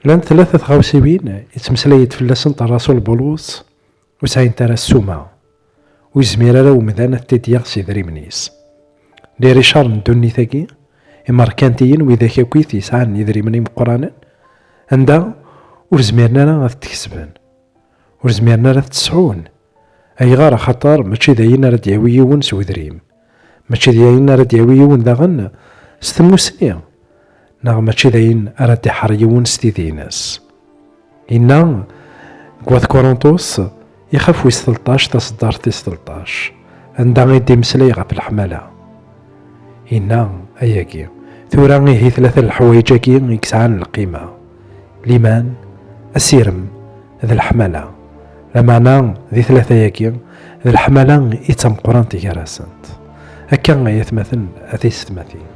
Llant tlata tɣawsiwin yettmeslay-d fell-asent Rasul Bulus ur sɛint ara ssuma, ur yezmir ara umdan ad t-id-yaɣ s yedrimen-is. Liricar n ddunit-agi, imerkantiyen widak akkit yesɛan idrimen imeqqranen, anda ur zmiren ara ad t-kesben, ur zmiren ara ad t-sɛun. Ayɣer? Axaṭer mačči d ayen ara d-yawi yiwen s udrim, Mačči d ayen ara d-yawi yiwen daɣen s tmusni, neɣ mačči d ayen ara d-iḥer yiwen s tidi-ines. Inna deg Wat Kurunṭus, ixef wis telṭac taseddart tis telṭac, anda i d-imeslay ɣef leḥmala. Inna, ayagi, tura ihi tlata n leḥwayeǧ-agi i yesɛan lqima, liman asirem d leḥmala lameɛna di tlata-agi d leḥmala i d tameqqrant gar-asent akka ay atmaten a tisetmatin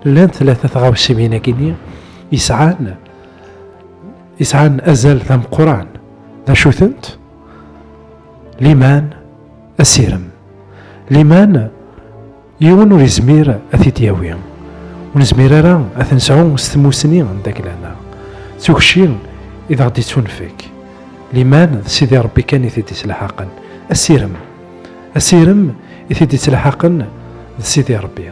llan tlata tɣawsiwin-agi yesɛan yesɛan azal d ameqqran d acu-tent liman asirem liman Yiwen ur izmir ad t-id-yawi. Ur nezmir ara ad t-nesɛu s tmusni n daglana. D tukci i d aɣ-d-ittunfek. Liman d Sidi Ṛebbi kan i t-id-ittlaḥaqen. Asirem. Asirem i t-id-ittlaḥaqen d Sidi Ṛebbi.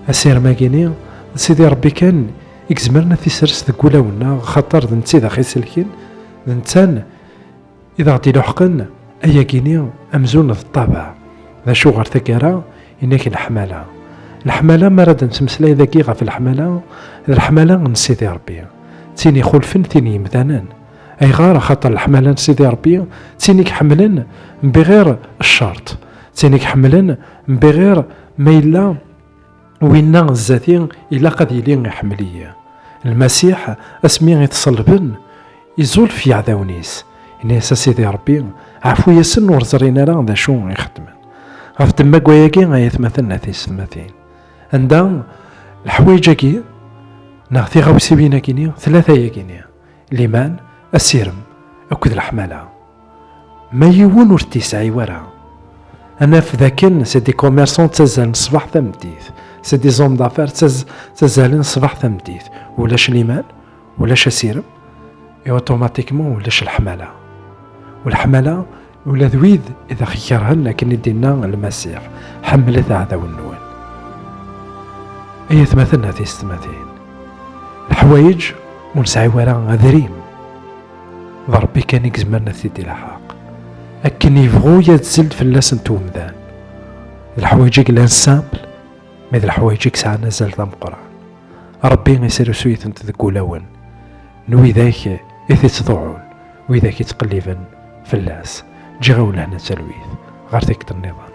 Asirem-agi-ni d Sidi Ṛebbi kan i izemren ad t-isers deg wulawen-nneɣ axaṭer d netta i d aɣ-iselken, d netta I d aɣ-d-iluḥqen ayagi-ni amzun d ṭṭabeɛ. D acu ɣer taggara i nak leḥmala? Leḥmala, mi ara d-nettmeslay dagi ɣef leḥmala, d leḥmala n Sidi Ṛebbi, d tin ixulfen tin n yemdanen. Ayɣer? Axaṭer leḥmala n Sidi Ṛebbi d tin i iḥemmlen mbiɣir ccerṭ, d tin i iḥemmlen mbiɣir ma yella, Winna zati ilaq ad yili iḥemmel-iyi. Lmasiḥ asmi i t-ṣelben, izulef yeɛdawen-is. Ini-as a Sidi Ṛebbi, ɛfu-yasen ur ẓrin ara d acu i xeddmen. Ɣef ddemma-agi ay atmaten a tiysetmatin, anda leḥwayeǧ-agi neɣ tiɣawsiwin-agi-ni, tlata-agi-ni, liman, asirem akked leḥmala. Ma yiwen ur t-yesɛi wara. Ad naf d akken c'est des commerçants ttazzalen ṣṣbeḥ tameddit, c'est des hommes d'affaires ttazzalen ṣṣbeḥ tameddit. Ulac liman, ulac asirem, et automatiquement ulac leḥmala. U leḥmala ula d wid i d aɣ-ikerhen akken i d-inna Lmasiḥ, ḥemmlet aɛdawen-nwen. Ay atmaten a tiysetmatin, leḥwayeǧ ur nesɛi wara adrim. d Ṛebbi kan i yezmren ad t-id-ilaḥaq, akken yebɣu yadzel-d fell-asent umdan. D leḥwayeǧ-agi i llan simple, mais d leḥwayeǧ i yesɛan azal d ameqqran. Ṛebbi yesrusu-itent deg wulawen n widak i t-ittḍuɛun, widak i ttqelliben fell-as. Ǧǧiɣ-awen lehna d talwit, ɣer tikkelt-nniḍen.